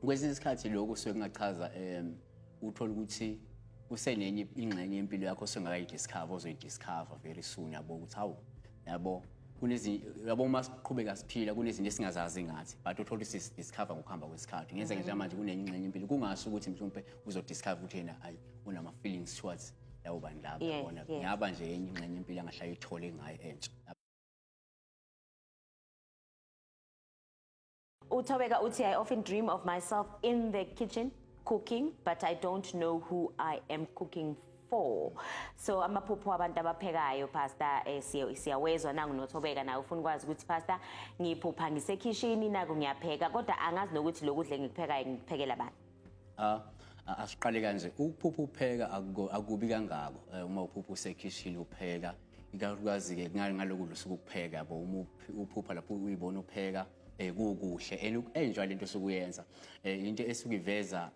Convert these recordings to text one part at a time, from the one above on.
kwesinye isikhathi lokho suke kungachaza um uthole ukuthi kusenenye ingxenye yempilo yakho osengakayidiscover ozoyidiscover very soon yabo ukuthi hawu yabo yabo uma siqhubeka siphila kunezinto esingazazi ngathi but uthole ukuthi sidiscover ngokuhamba kwesikhathi ngenzeke mm-hmm. njengamanje kunenye impilo kungasho ukuthi mhlawumpe uzodiscover ukuthi yena ayi unama-feelings towards labo bantu laba yabona ngiyaba nje enye ingxenye impilo angahlala ithole ngayo entsha Uthobeka uthi I often dream of myself in the kitchen cooking but I don't know who I am cooking for so amaphupho abantu abaphekayo pastor eh, siya- siyawezwa nangu nothobeka naye ufuna ukwazi ukuthi pastor ngiphupha ngisekhishini naku ngiyapheka kodwa angazi nokuthi lokudla engikuphekayo ngikuphekela bani Ah, a- asiqale kanje ukuphupha upheka akuko- akubi kangako Eh, uma uphupha usekhishini upheka ikakhulukazi-ke ngaloku lusuku ukupheka yabo uma uphupha lapho uyibona upheka um kukuhle and uku-enjoy le nto osukuyenza um eh, into esuke iveza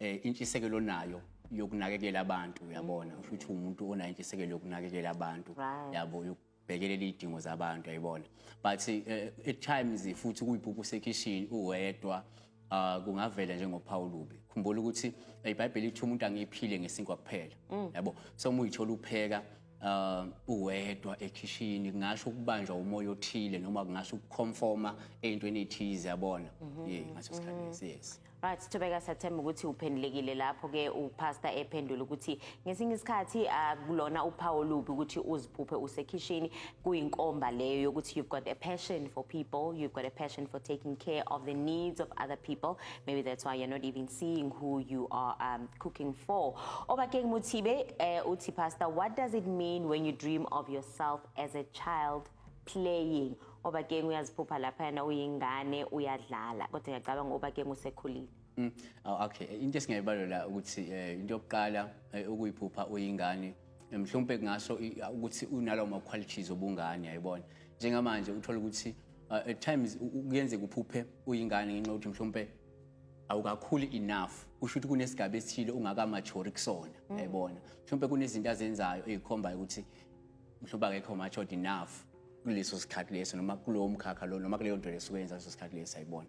um eh, intshisekelo onayo yokunakekela abantu uyabona usho ukuthi umuntu onayo intshisekelo yokunakekela abantu yabo bhekelela iy'dingo zabantu yayibona but uh, at times futhi kuyiphupha usekhishini uwedwa uh, kungavela njengophawu lubi khumbula ukuthi ibhayibheli ithi umuntu angiphile ngesinkwa kuphela mm. yabo so uma uyithola upheka uh, uwedwa ekhishini kungasho ukubanjwa umoya othile noma kungasho ukuconforma eyintweni ethize yabona mhm. ye ngaso sikhathi mhm. lesi yes right sithobeka sathemba ukuthi uphendulekile lapho ke upastor ephendula ukuthi ngesinye isikhathi akulona uphawu lubi ukuthi uziphuphe usekhishini kuyinkomba leyo yokuthi you've got a passion for people you've got a passion for taking care of the needs of other people maybe that's why you're not even seeing who you are um, cooking for obakeng muthibe uh, uthi pastor what does it mean when you dream of yourself as a child playing obakeng uyaziphupha laphayana uyingane uyadlala kodwa ngiyacabanga obakeng usekhulile mm. oh, okay into esingayibalola ukuthi eh, into yokuqala eh, ukuyiphupha uyingane mhlawumbe kungasho ukuthi unalawo ma-qualities obungane yayibona njengamanje uthola ukuthi uh, at times kuyenzeka uphuphe uyingane ngenxa yokuthi mhlawumpe awukakhuli enough kusho ukuthi kunesigaba esithile ungakamajori kusona mm. yayibona mhlawumpe kunezinto azenzayo ezikhombayo ukuthi mhlawumbe akekho matured enough kuleso sikhathi leso noma kulowo mkhakha lo noma kuleyo nto leso kuyenza leso sikhathi leso ayibona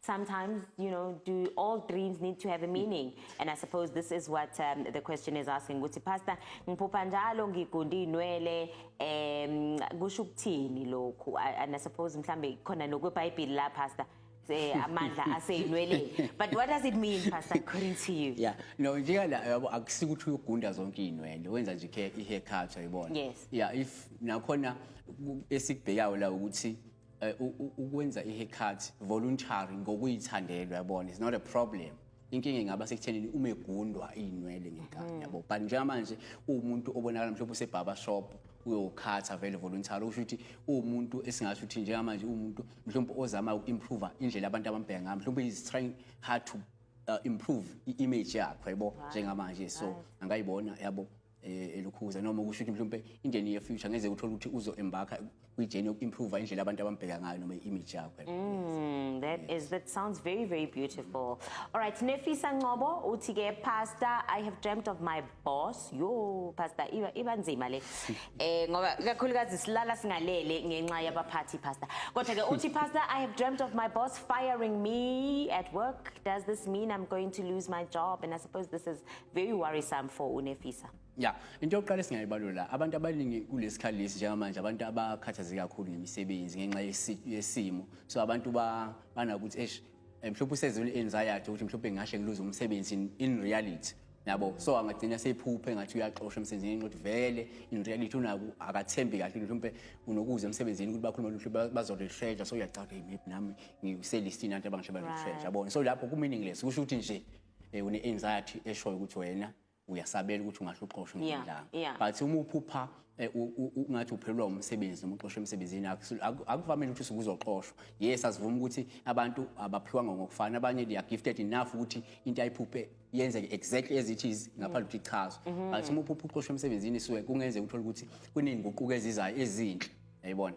sometimes, you know, do all dreams need to have a meaning? And I suppose this is what um, the question is asking. Ukuthi pastor, ngiphupha njalo ngigunda inwele um kusho ukuthini lokhu? And I suppose mhlambe khona nokweBhayibheli la pastor. Eh, amandla aseyinweleni but what does it mean pastor according to you yeah no njeka la yabo akusikuthi uyogunda zonke izinwele wenza nje i haircut ayibona yes yeah if nakhona esikubhekayo la ukuthi Eh, ukwenza i-haircut voluntary ngokuyithandela uyabona it's not a problem inkinga ingaba sekuthenini uma egundwa iy'nwele ngenkani mm. yabo but njengamanje uwumuntu obonakala mhlawumbe usebhaba shop uyokhatha vele voluntary usho ukuthi uwumuntu esingasho ukuthi njengamanje uwumuntu mhlawumbe ozama uku-improve indlela abantu abambheka ngayo mhlawumbe is trying hard to uh, improve i-image yakho yabo njengamanje so angayibona yabo eh, elukhuza noma kusho ukuthi mhlawumbe indeni ye future ngeze uthola ukuthi uzo embarka kwi journey yoku improve indlela abantu abambheka ngayo noma image yakho mm, that yes. is that sounds very very beautiful all right nefisa ncobo uthi ke pastor i have dreamt of my boss yo pastor iba iba nzima le eh ngoba kakhulukazi silala singalele ngenxa yabaphathi pastor kodwa ke uthi pastor i have dreamt of my boss firing me at work does this mean i'm going to lose my job and i suppose this is very worrisome for unefisa ya into yokuqala esingayibalula abantu abaningi kulesikhali lesi njengamanje abantu abakhathazeke kakhulu ngemisebenzi ngenxa yesimo so abantu banakuthi esh eh, mhlawumbe usezule anxiety ukuthi mhlawumbe ngashe ngiluze umsebenzi in reality yabo so angagcina seyiphuphe ngathi uyaxosha emsebenzini ngenxa vele in reality unaku akathembi kahle mhlawumbe unokuza emsebenzini ukuthi bakhuluma luhle bazolishreja so uyacabha hey maybe nami ngiselistini abantu abangisho balishreja yabona so lapho kumeaningless kusho ukuthi nje eh, une anxiety eshoyo ukuthi wena uyasabela ukuthi ungahle uxoshwe ngendlanga yeah. but uma uphupha eh, ungathi uphelelwa umsebenzi noma uxoshwe emsebenzini akuvamile ukuthi usuke uzoxoshwa yes asivuma ukuthi abantu abaphiwanga ngokufana abanye they are gifted enough ukuthi into ayiphuphe yenzeke exactly as it is ngaphandle ukuthi ichazwe mm-hmm. but uma uphupha uxoshwe emsebenzini suke kungenzeka uthole ukuthi kuney'nguquko ezizayo ezinhle yayibona